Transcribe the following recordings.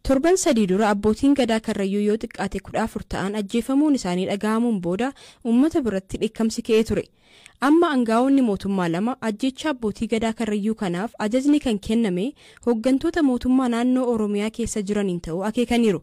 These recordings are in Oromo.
Torban sadii dura abbootiin gadaa karrayyuu yoo xiqqaate kudha afur ta'an ajjeefamuun isaanii dhaga'amuun booda uummata biratti dheekkamsi ka'ee ture. Amma aangaa'onni mootummaa lama ajjeechaa abbootii gadaa karrayyuu kanaaf ajajni kan kenname hooggantoota mootummaa naannoo Oromiyaa keessa jiraniin ta'uu akeekaniiru.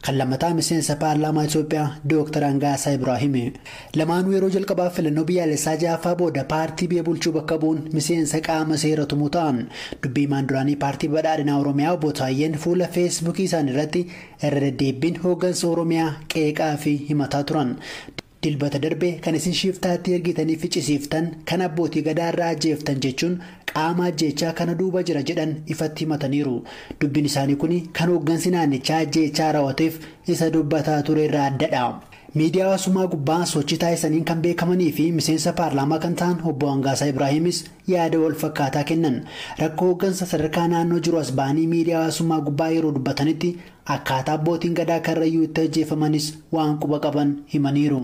Kan lammataa miseensa paarlaamaa Itoophiyaa Dooktar Angaasaa Ibraahimi. Lamaanuu yeroo jalqabaaf filannoo biyyaalessaa jahaffaa booda paartii biyya bulchuu bakka bu'uun miseensa qaama seera tumuu ta'an. Dubbi himaan duraanii paartii badhaadhinaa Oromiyaa Obbo Taayyeen fuula Feesbuukii isaaniirratti irra deddeebbiin hooggansa Oromiyaa qeeqaafi himataa turan. Dilbata darbe kan isin shiiftaatti ergitanii ficisiiftan kan abbootii Gadaa irraa ajjeeftan jechuun qaama ajjeechaa kana duuba jira jedhan ifatti himataniiru. Dubbin isaanii kuni kan hooggansi naannichaa ajjeechaa rawateef isa dubbataa ture irraa addadha. Miidiyaa hawaasummaa gubbaa sochii taasisaniin kan beekamanii fi miseensa paarlaamaa kan ta'an Obbo Hangaasaa Ibraahimis yaada wal fakkaataa kennan. Rakkoo hooggansa sadarkaa naannoo jiru as ba'anii miidiyaa hawaasummaa gubbaa yeroo dubbatanitti Akkaataa Abbootiin Gadaa Karrayyuu itti ajjeefamanis waan quba qaban himaniiru.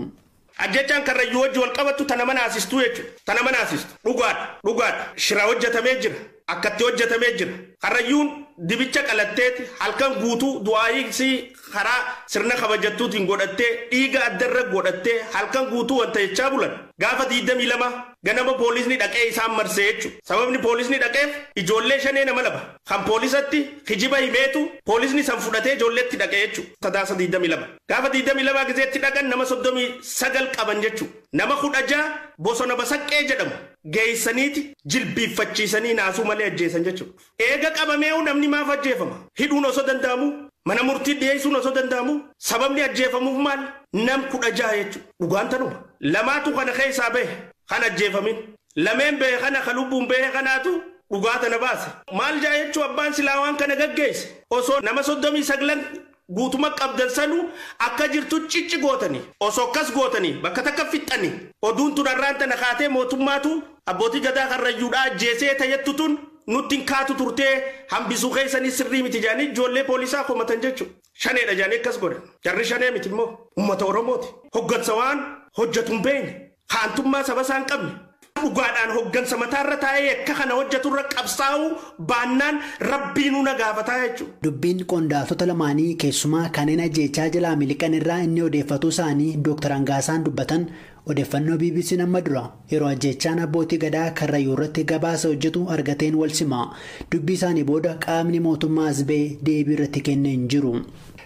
Ajjeechaan Karrayyuu wajji wal qabattu ta nama naasistuu jechu ta nama naasistu dhugaadha dhugaadha shira hojjatamee jira akkatti hojjatamee jira Karrayyuun dibicha qalatteeti halkan guutuu du'aayii isii karaa sirna kabajattuutiin godhattee dhiiga adda irra godhattee halkan guutuu wanta jechaa bulan gaafa 22 ganama poolisni dhaqee isaan marse jechu sababni poolisni dhaqeef ijoollee shanee nama lama kan poolisatti kijiba himeetu poolisni san fudhatee ijoolletti dhaqe jechu sadaasa 22 gaafa 22 gizeetti dhaqan nama 39 qaban jechu nama 16 bosona basaqqee jedhamu geessaniiti jilbiiffachiisanii naasuu malee ajjeesan jechuudha. Eega qabameehu namni maaf ajjeefama? Hidhuun osoo danda'amuu? Mana murtiit dhiyeessuun osoo danda'amuu? Sababni ajjeefamuuf maal? Nam 16 jechu. Dhugaan tanuma. Lamaatu kana keessaa bahe. Kan ajjeefamin. Lameen bahe kana ka lubbuun bahe kanaatu dhugaa tana baase. Maal ja'a jechuu abbaan silaa waan kana gaggeesse? Osoo nama 39n Guutuma qabdan sanu akka jirtu cicci gootani oso akkas gootani bakka takka fixxani oduun tun arraan tana kaatee mootummaatu abbootii gadaa karrayyuudha ajjeesee ta jettu tun nutti hin kaatu turtee hambisuu keessanii sirrii miti jedhanii ijoollee poolisaa komatan jechu shaneedha jedhanii akkas godhan jarri shanee miti immoo ummata oromooti hoggansa waan hojjatu hin beeyne haantummaa saba isaa hin qabne, dhugaadhaan hoggansa mataa irra taa'ee yakka kana hojjatu irra qabsaa'uu baannaan Rabbiinuu na gaafataa jechuudha. Dubbiin qondaaltota lamaanii keessumaa kanneen ajjeechaa jalaa miliqan irraa inni odeeffatuu isaanii Dooktar Angaasaan dubbatan odeffannoo BBCn amma dura yeroo ajjeechaan abbootii Gadaa Karrayyuu irratti gabaasa hojjatu argateen wal sima. Dubbii isaanii booda qaamni mootummaa as ba'e deebii irratti kenne hin jiru.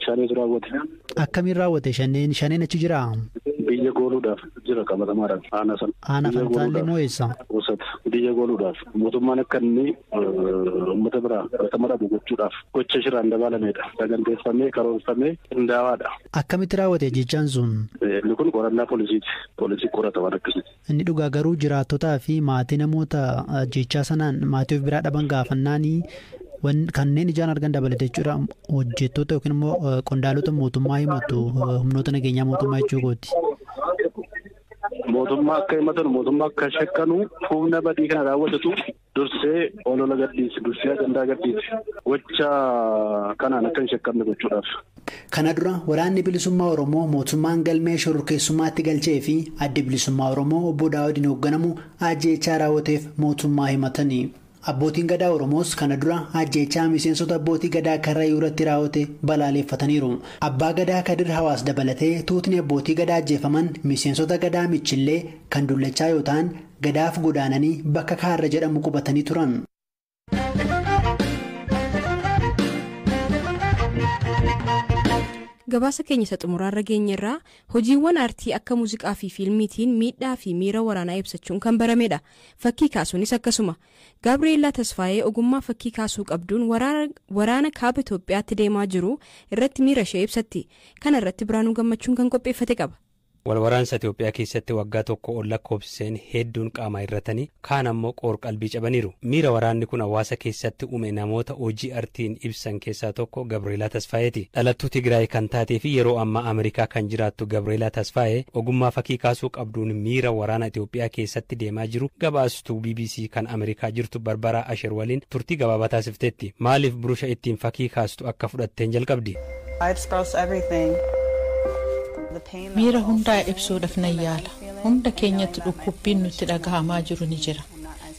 Shaneetu raawwate. Akkamiin raawwate shaneen? Shaneen achi jiraa? Biyya gooluudhaaf jira qabatamaadhaan aanaa sana. Aanaa Biyya Fantaallee gooluudhaaf. moo eessa? Goosat biyya gooluudhaaf mootummaan akka inni eh, uummata biraa fudhatama dhabu gochuudhaaf gocha shiraan dabaalamedha. Saganteeffamee karoorfamee qindaawaadha. Akkamitti raawwate jechaan sun? Eh, Inni kun qorannaa poolisiiti. Poolisii qorata waan akkasiiti. Inni dhugaa garuu jiraattotaa fi maatii namoota ajjeechaa sanaan maatii of biraa dhaban gaafannaan kanneen ijaan argan dabalate jechuudha hojjettoota yookiin immoo qondaalota mootummaa himatu humnoota nageenyaa mootummaa jechuu kooti. Mootummaa akka himatan mootummaa akka shakkanu humna badii kana raawwatatu Dursee olola gadhiisi, dursee ajandaa gadhiisi. Gocha kanaan akka hin shakkamne gochuudhaaf. Kana dura Waraanni Bilisummaa Oromoo mootummaan galmee shororkeessummaatti galchee fi Addi Bilisummaa Oromoo Obbo Daawudiin hoogganamu ajjeechaa raawwateef mootummaa himatani. Abbootiin Gadaa Oromoos kana dura ajjeechaa miseensota Abbootii Gadaa Karrayyuu irratti raawwate balaaleeffataniiru. Abbaa Gadaa Kadir Hawaas dabalatee tuutni Abbootii Gadaa ajjeefaman miseensota Gadaa Michillee kan Dullachaa yoo ta'an, Gadaaf godaananii bakka Kaarra jedhamu qubatanii turan. Gabaasa keenya isa xumuraarra geenyerra hojiiwwan aartii akka muuziqaa fi fiilmiitiin miidhaa fi miira waraanaa ibsachuun kan baramedha. Fakkii kaasuunis akkasuma. Gaabriyeellaa Tasfaayee ogummaa fakkii kaasuu qabduun waraana, waraana kaaba Itoophiyaatti deemaa jiru irratti miira ishee ibsatti. Kana irratti Biraanuu Gammachuun kan qopheeffate qaba. Wal waraansa Itoophiyaa keessatti waggaa tokko ol lakkoofsiseen heedduun qaamaa hir'atanii, kaan ammoo qoor-qalbii cabaniiru. Miira waraanni kun hawaasa keessatti uume namoota hojii artiin ibsan keessaa tokko Gabreelaa Tasfaayeeti. Dhalattuu Tigraay kan taateefi yeroo ammaa Amerikaa kan jiraattu Gabreelaa Tasfaayee ogummaa fakii kaasuu qabduun miira waraana Itoophiyaa keessatti deemaa jiru gabaastuu bbc kan Amerikaa jirtu Barbaraa Asher waliin turtii gabaabaa taasifteetti. Maaliif burusha ittiin fakii kaastu akka fudhatteen jalqabdi. Miira hundaa ibsuudhaf nan yaala. Hunda keenyatti dhukkubbiin nutti dhagahamaa jiru ni jira.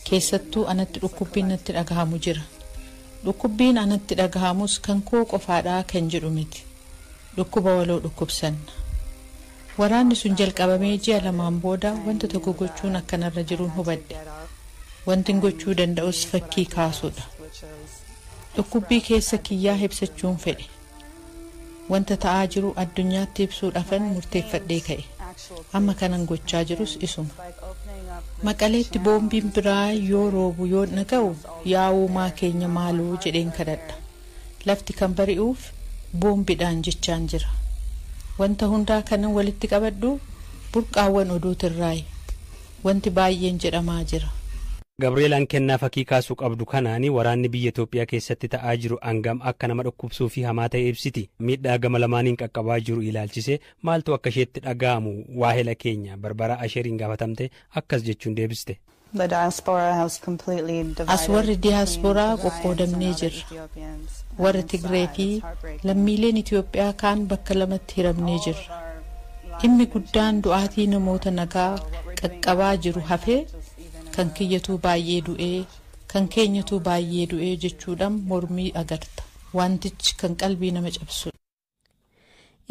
Keessattuu anatti dhukkubbiin natti dhagahamu jira. Dhukkubbiin anatti dhagahamus kan koo qofaadha kan jedhu miti. Dhukkuba waloo dhukkubsanna. Waraanni sun jalqabamee ji'a lamaan booda wanta tokko gochuun akka narra jirun hubadhe. Wantin gochuu danda'us fakkii kaasuudha. Dhukkubbii keessa kiyyaa hibsachuun fedhe. Wanta ta'aa jiru addunyaatti ibsuudhafan murteeffadhee ka'e. Amma kanan gochaa jirus isuma. Maqaleetti boombiin biraa yoo roobu yoon dhaga'u yaa uumaa keenya maaloo jedheen kadhadha. Lafti kan bari'uuf boombidhaan jechaan jira. Wanta hundaa kanan walitti qabadhu burqaawwan oduutirraayi. Wanti baay'een jedhamaa jira. Gabriel an kennaa fakii kaasu qabdu kanaani waraanni biyya Itoophiyaa keessatti ta'aa jiru angam akka nama dhukkubsuu fi hamaa ta'e ibsiti. Miidhaa gama lamaaniin qaqqabaa jiru ilaalchisee maaltu akka isheetti dhaga'amu waahela keenya Barbaraa Asheriin gaafatamtee akkas jechuun deebiste. As warri diyaasporaa qoqqoodamnee jirra. Warri Tigree fi lammiileen Itoophiyaa kaan bakka lamatti hiramnee jirra. Dhimmi guddaan du'aatii namoota nagaa qaqqabaa jiru hafee kan kiyyatuu baay'ee du'ee, kan keenyatuu baay'ee du'ee jechuudhaan mormii agarta. Wantichi kan qalbii nama cabsudha.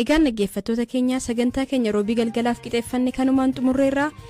Egaan dhaggeeffattoota keenya sagantaa keenya Roobii galgalaaf qixeeffanne kanumaan xumurreerra.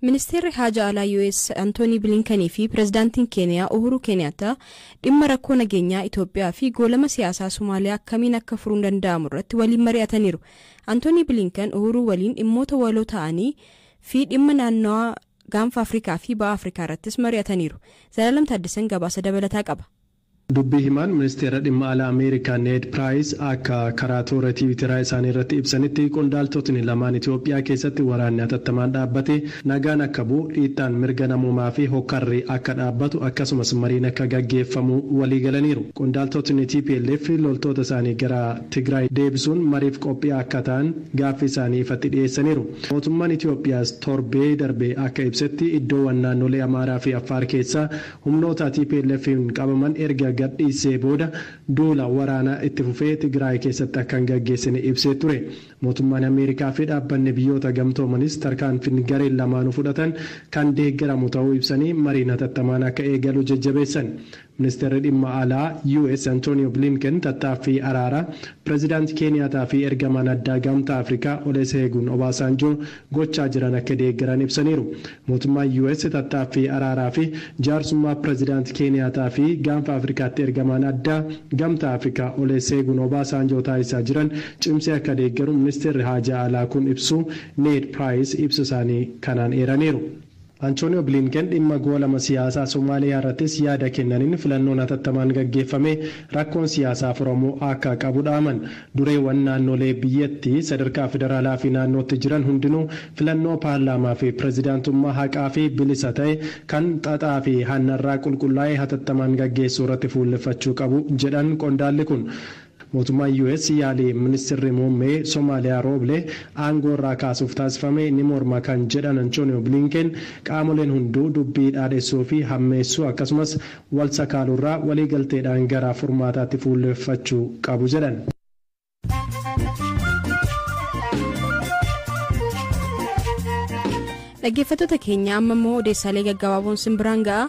Ministeerri Haajaa Alaa US Antoonii Bilinkanii fi Pireezidaantiin Keeniyaa Uhuru Keeniyaattaa dhimma rakkoo nageenyaa Itoophiyaa fi goolama siyaasaa Somaaliyaa akkamiin akka furuun danda'amu irratti waliin mari'ataniiru. Antoonii Bilinkan Uhuruu waliin dhimmoota waloo ta'anii fi dhimma naannawaa gaanfa Afrikaa fi ba'a Afrikaa irrattis mari'ataniiru. Zalaalam Taaddasan gabaasa dabalataa qaba. Dubbii himaan Ministeera Dhimma Alaa Ameerikaa Need Piraayis akka karaa toora Tiwiiteraa isaanii irratti ibsanitti, qondaaltotni lamaan Itoophiyaa keessatti waraanni hatattamaan dhaabbatee nagaan akka bu'u, dhiittaan mirga namoomaa fi hokkarri akka dhaabbatu akkasumas mariin akka gaggeeffamu waliigalaniiru. Qondaaltotni tplf loltoota isaanii gara Tigraay deebisuun mariif qophii akka ta'an gaaffii isaanii ifatti dhiyeessaniiru. Mootummaan Itoophiyaas torbee darbe akka ibsetti iddoowan naannolee Amaaraa fi Affaar keessaa Humnoota TPLFn qabaman erga gadhiissee booda duula waraanaa itti fufee Tigraay keessatti akka hin gaggeessine ibsee ture. Mootummaan Ameerikaa fi Dhaabbanni Biyyoota Gamtoomanis tarkaanfin gareen lamaanuu fudhatan kan deeggaramu ta'uu ibsanii mariin hatattamaan akka eegalu jajjabeessan. Ministeerri Dhimma Alaa US Antonio Blinken tattaaffii araaraa Pirezidaant Keeniyaataa fi Ergamaan Addaa Gamtaa Afrikaa Oleseegun Obaasaanjoo gochaa jiran akka deeggaran ibsaniiru. Mootummaan US tattaaffii araaraa fi jaarsummaa Pirezidaant Keeniyaataa fi Gaanfa Afrikaatti ergamaan addaa Gamtaa Afrikaa Oleseegun Obaasaanjoo taasisaa jiran cimsee akka deeggaru Ministeerri Haajaa Alaa kun ibsuu Need Piraayis ibsa isaanii kanaan eeraniiru. Antooniyoo Biliinken dhimma goolama siyaasaa Somaaliyaarrattis yaada kennaniin filannoon hatattamaan gaggeeffamee rakkoon siyaasaa furamuu akka qabu dhaaman. Dureewwan naannolee biyyattii sadarkaa federaalaafi naannootti jiran hundinuu filannoo paarlaamaafi pirezidaantummaa haqaafi bilisa ta'e, kan xaxaafi hannarraa qulqullaa'e hatattamaan gaggeessuurratti fuulleffachuu qabu jedhan qondaalli kun. Mootummaan US yaalii Ministirri Muummee Somaaliyaa Rooble aangoo irraa kaasuuf taasifame ni morma kan jedhan Antooniyoo Biliinkeen, qaamoleen hunduu dubbii dhaadhessuu fi hammeessuu akkasumas wal sakaaluu irraa waliigalteedhaan gara furmaataatti fuulleffachuu qabu jedhan. Dhaggeeffattoota keenya amma immoo odeessaalee gaggabaaboon sin biraan ga'a.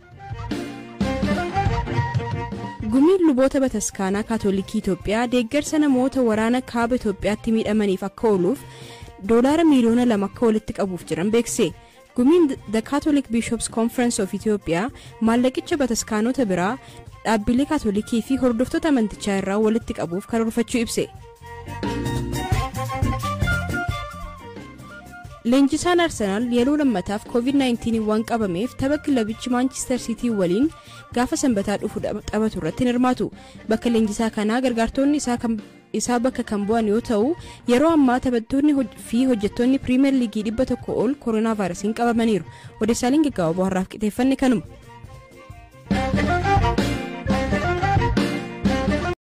Gumiin luboota bataskaanaa kaatolikii Itoophiyaa deeggarsa namoota waraana kaaba Itoophiyaatti miidhamaniif akka ooluuf doolaara miiliyoona lama akka walitti qabuuf jiran beekse. Gumiin The Catholic Bishops Conference of Ethiopia maallaqicha bataskaanota biraa dhaabbilee kaatolikii fi hordoftoota amantichaa irraa walitti qabuuf karoorfachuu ibse. Leenjisaan Arsenaal yeroo lammataaf COVID-19 waan qabameef tapha kilabichi Maanchister Siitii waliin gaafa sanbataa dhufu taphatu irratti hin hirmaatu. Bakka leenjisaa kanaa gargaartoonni isaa kan isaa bakka kan bu'an yoo ta'u yeroo ammaa taphattoonni fi hojjettoonni piriimeer liigii dhibba tokko ol koronaa vaayirasiin qabamaniiru odeessaaleen gaggabaaboo har'aaf qixeeffanne kanuma.